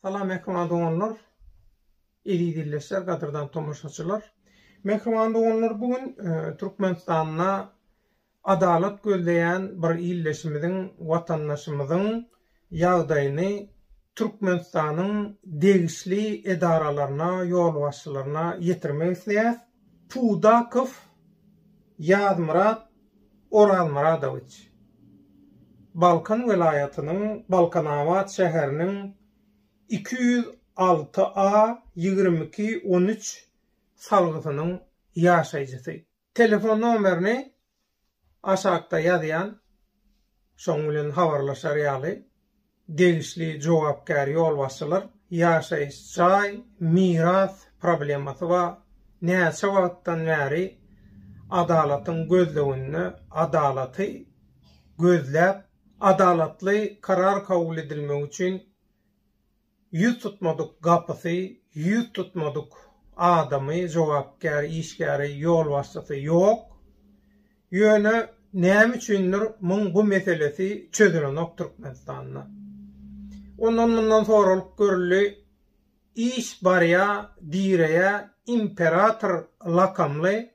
Salam mehman doganlar. Eli dilleşler, gadyrdan tomaşaçylar. Mehman doganlar bugün e, Türkmenistanda Adalat gözleýän bir ildeşimiziň, watandaşymyzyň ýagdaýyny Türkmenistanyň degişli edaralaryna, ýolbaşçylaryna ýetirmek isleýäs. Pudakow Ýazmyrat Orazmyradowiç, Balkan welaýatynyň Balkanabat şäheriniň iki ýüz alty A ýigrimi iki on üç salgysynyň ýaşaýjysy. Telefon nomerini aşakda ýazýan, şoň bilen habarlaşar ýaly, degişli jogapkär ýolbaşçylar ýaşaýyş jaý, miras problemasy ba näçe wagtdan bäri adalatyň gözleginde adalaty gözläp, adalatly karar kabul edilmegi üçin Ýüz tutmadyk gapysy, ýüz tutmadyk adamy, jogapkär işgäri, ýolbaşçysy ýok. Ýöne näme üçindir muň bu meselesi çözülenok Türkmenistanda. Ondan mundan soralyp görüldi, iş barýa, direýä, imperator lakamly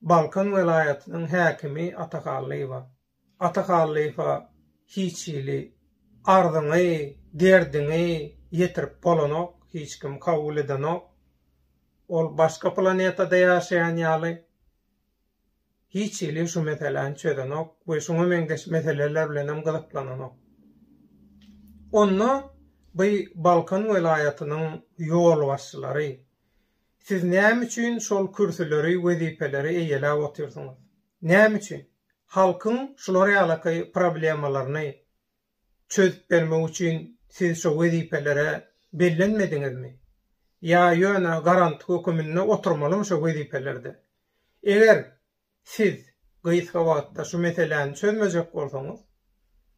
Balkan welaýatynyň häkimi Atahallyýewa. Ata halypa hiç hili arzyňy, derdiňi ýetirip bolanok, hiç kim kabul edenok. Ol başga planetada ýaşaýan ýaly, hiç hili şu meseläni çözenok we şuňa meňzeş meseleler bilenem gyzyklananok. Onda by Balkan welaýatynyň ýolbaşçylary, siz näme üçin şol kürsüleri, wezipeleri eýeläp otyrsyňyz? Näme üçin? Halkyň şular ýalaky problemalaryny çözüp bermek üçin siz şo wezipelere bellenmediňizmi? Ýa ýöne garant höküminde oturmalymy şo wezipelerde? Eger siz gysga wagtda şu meseläni çözmejek bolsaňyz,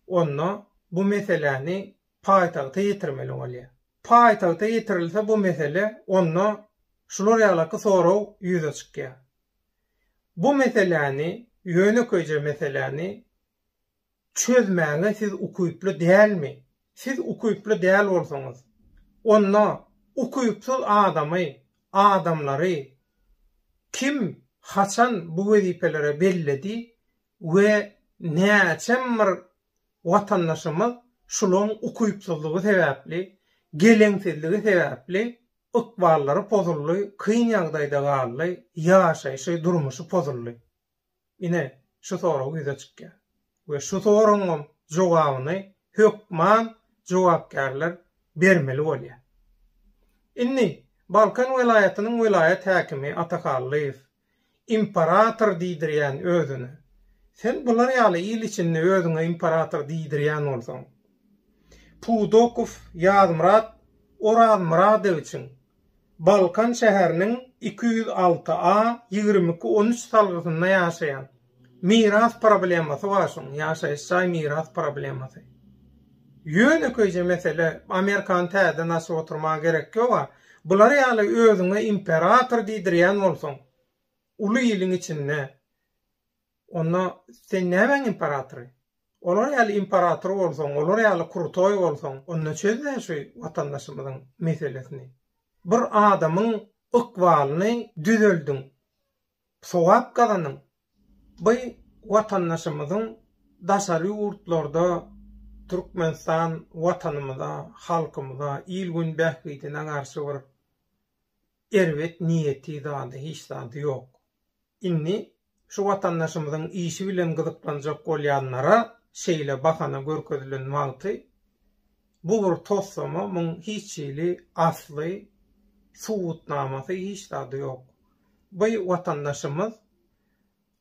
onda bu meseläni paýtagta ýetirmeli bolýar. Paýtagta ýetirilse bu mesele, onda şular ýalaky sorag ýüze çykýar. Bu meseläni, ýönekeýje meseläni çözmäge siz ukyply dälmi? Siz ukyply däl bolsaňyz, onda ukypsyz adamy, adamlary kim, haçan bu wezipelere belledi we näçem bir watandaşymyz şulaň ukypsyzlygy sebäpli, geleňsizligi sebäpli, Ykballary pozuldy, kyn ýagdaýda galdy, ýaşaýşy, durmuşy pozuldy. Ine, şu sorag ýüze çykýar. We şu soragyňam jogabyny hökman jogapkärler bermeli bolýar. Indi Balkan welaýatynyň welaýat häkimi Ata Hallyýew Imperator diýdirýän özüne. Sen bular ýaly il içinde özüňe imperator diýdirýän bolsaň. Pudokow Ýazmyrat Orazmyradowiçiň Balkan şäheriniň iki ýüz alty A ýigrimi iki on üç salgysynda ýaşaýan. Miras problemasy bar şuň, ýaşaýyş jaý miras problemasy. Ýönekeýje mesele, Amerikany täzeden açyp oturmaga gerek ýog-a. Bular ýaly özüňe imperator diýdirýän bolsaň, uly iliň içinde, onda sen nämäň imperatory? Olar ýaly imperator bolsaň, olar ýaly krutoý bolsaň, onda çöz-dä şu watandaşymyzyň meselesini. Bir adamyň ykbalyny düzeldiň. sogap gazanyň. By watandaşymyzyň daşary ýurtlarda Türkmenistan watanymyza, halkymyza, il-gün bähbidine garşy bir erbet niýeti zady hiç zady ýok. Indi şu watandaşymyzyň işi bilen gyzyklanjak bolýanlara şeýle bahana görkezilen wagty Bu bir toslama, muň hiç hili asly, subutnamasy hiç zady ýok. Bu watandaşymyz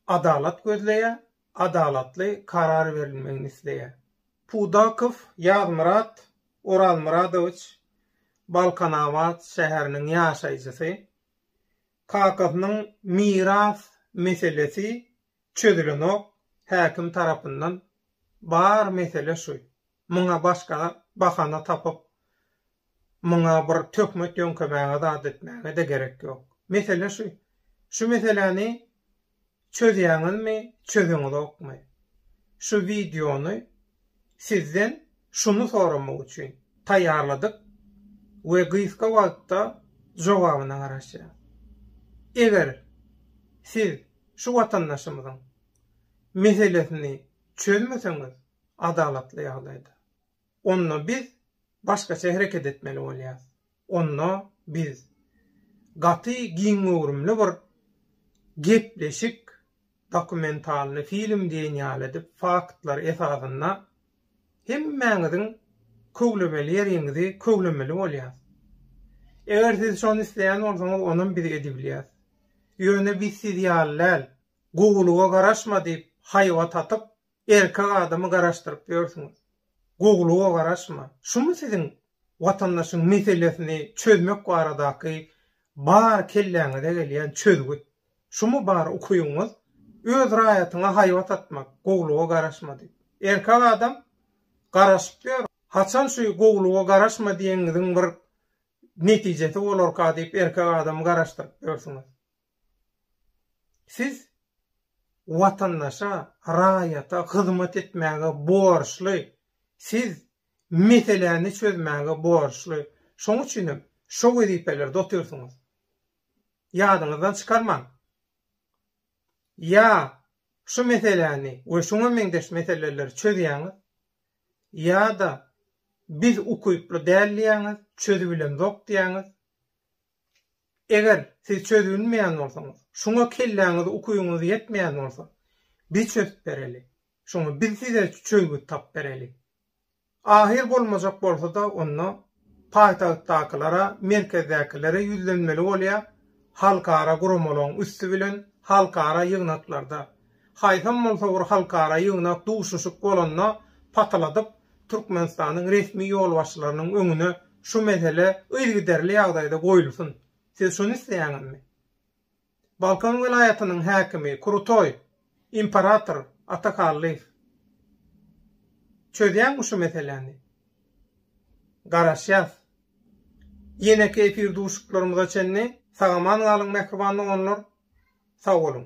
adalat gözleýär, adalatly karar berilmegini isleýär. Pudakow Ýazmyrat Orazmyradowiç Balkanabat şäheriniň ýaşaýjysy. Kakasynyň miras meselesi çözülenok häkim tarapyndan. Bar mesele şu. Muňa başga bahana tapyp, muňa bir töhmet ýöňkemäge zat etmäge-de gerek ýok. Mesele şu, şu meseläni çözýäňizmi, çözeňizokmy? Şu wideony sizden şuny soramak üçin taýýarladyk we gysga wagtda jogabyna garaşýas. Eger siz şu watandaşymyzyň meselesini çözmeseňiz, adalatly ýagdaýda. Onda biz başgaça hereket etmeli bolýarys. Onda biz gaty giň göwrümli bir gepleşik, dokumentalny film diýen ýaly edip, faktlar esasynda hemmäňiziň köwlemeli ýeriňizi köwlemeli bolýarys. Eger siz şony isleýän bolsaňyz, onam biz edibilýäris. Ýöne biz siz ýaly däl, gowulyga garaşma diýip haýbat atyp, Erkek adamy garaşdyryp ýörsüňiz. Gowulyga garaşma. Şumy siziň watandaşyň meselesini çözmek baradaky bar kelläňize gelýän çözgüt? Şumy bar ukyňyz? Öz raýatyňa haýbat atmak, gowulyga garaşma diýip. Erkek adam garaşyp ýör. Haçan şu gowulyga garaşma diýeniňiziň bir netijesi bolarka diýip erkek adamy garaşdyryp ýörsüňiz. Siz watandaşa, raýata hyzmat etmäge borçly, siz meseläni çözmäge borçly. Şoň üçin hem şo wezipelerde otyrsyňyz. Ýadyňyzdan çykarmaň. Ýa şu meseläni we şuňa meňzeş meseleleri çözýäňiz, ýa-da biz ukyply däl diýýäňiz, çözübilemzok diýýäňiz, Eger siz çözülmeýän bolsaňyz, şuňa kelläňiz ukyňyz ýetmeýän bolsa, bi çözüp bereli. Şoňa biz size çözgüt tap bereli. Ahyr bolmajak bolsa-da onda paýtagtdakylara, merkezdäkilere ýüzlenmeli bolýar, halkara guramalaryň üsti bilen halkara ýygnaklarda Haýsam bolsa bir halkara ýygnak duşuşyk bolanda pataladyp Türkmenistanyň resmi ýolbaşçylarynyň öňüne şu mesele yzgiderli ýagdaýda goýulsyn. Siz şuny isleýäňizmi? Balkan welaýatynyň häkimi Krutoý, imperator Ata Kallyýew. Çözýäňmi şu meseläni? Garaşýas. Ýeneki efir duşuşyklarymyza çenli sagaman galyň mähriban doganlar. Sag boluň.